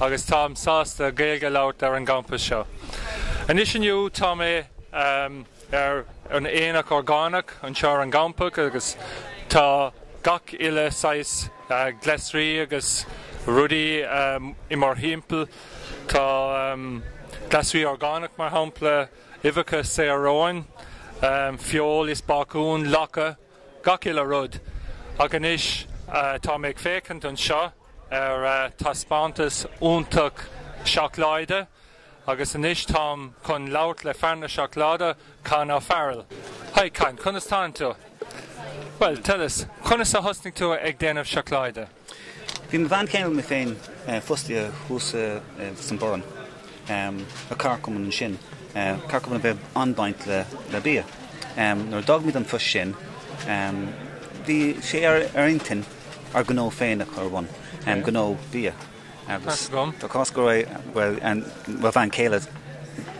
agus táim sásta Gaeilge a labhairt ar an gcampas seo. Anois inniu tá mé ar an aonach orgánach anseo ar an gcampas agus tá gach uile saghas glasraí agus rudaí i mo thimpeall. Tá glasraí orgánach mar shampla, uibheacha saor-raoin, feoil is bácún, lacha. gach uile rud. Ach anois tá mé ag féachaint anseo ar thaispeántas iontach seacláide agus anois táim chun labhairt le fear na seacláide, Con O'Farrell. Hi Con, conas tánn tú? Bhuel, tell us, conas a thosnaigh tú ag déanamh seacláide? Bhí mo bhean chéile is mé féin fostaithe thuas san Boireann, le comharchumann ansin, comharchumann a bheith an-baint le bia. Nuair a d'fhág muid an phost sin, bhí sé ar ár intinn ár ngnó féin a chur ar bhun, gnó bia. Agus tá cás go raibh mo bhean chéile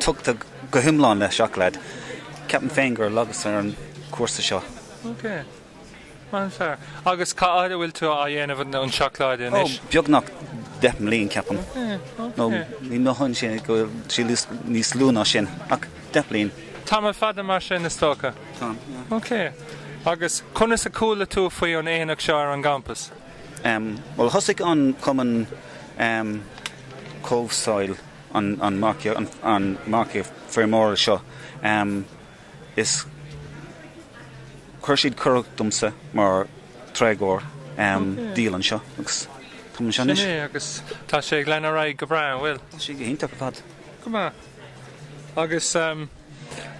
tugtha go hiomlán le seacláid, ceapaim féin gur leagas ar an chúrsa seo. Agus cá fhad a bhfuil tú á dhéanamh an seacláide anois? Ó, beagnach deich mbliain, ceapaim. No, ní mothaíonn sé go bhfuil sí níos lú ná sin, ach deich bliain. Tamall fada mar sin, is dócha. Tá, yeah. Ok. Agus conas a chuala tú faoi an aonach seo ar an gcampas? Bhuel, thosaigh an cumann Comhshaoil, an margadh, an margadh feirmeora seo Is chuir siad cuireadh domsa mar táirgeoir díol anseo agus táim anseo anois. Sin é agus tá sé ag lean ar aghaidh go breá, an bhfuil? Tá sé go hiontach ar fad. Go maith. Agus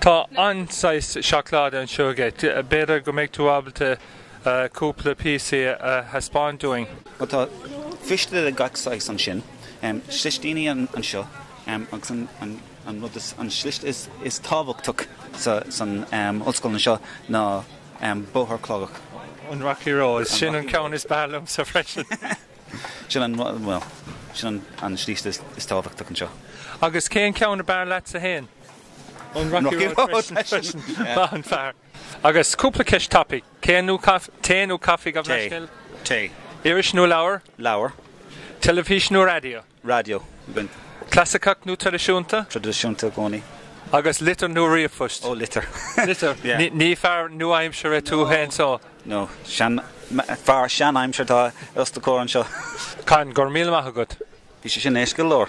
tá an-saghas seacláide anseo agat. B'fhéidir go mbeidh tú ábalta cúpla píosaí a thaispeáint dúinn? Bhuel tá fistile de gach saghas ansin. Slisíní anseo agus an An rud is an slis is tábhachtach san ollscoil anseo ná bóthar clochach. An Rocky Road. Sin an ceann is breá liomsa freisin. Sin an rud, bhuel, sin an slis is tábhachtach anseo. Agus cén ceann ab fhearr leatsa féin? An Rocky Road freisin. Maith an fear. Agus cúpla ceist tapaí. Tae nó caife? Tae nó caife, gabh mo leithscéal? Tae. Iris nó leabhar? Leabhar. Teilifís nó raidió? raidió. Clasaiceach nó traidisiúnta? Traidisiúnta i gcónaí. Agus litir nó ríomhphost? Ó, litir. Litir. Ní fear nua-aimseartha tú fhéin so? No, fear sean-aimseartha atá os do chomhair anseo. Con, go raibh míle maith agat. Bhí sé sin éasca go leor.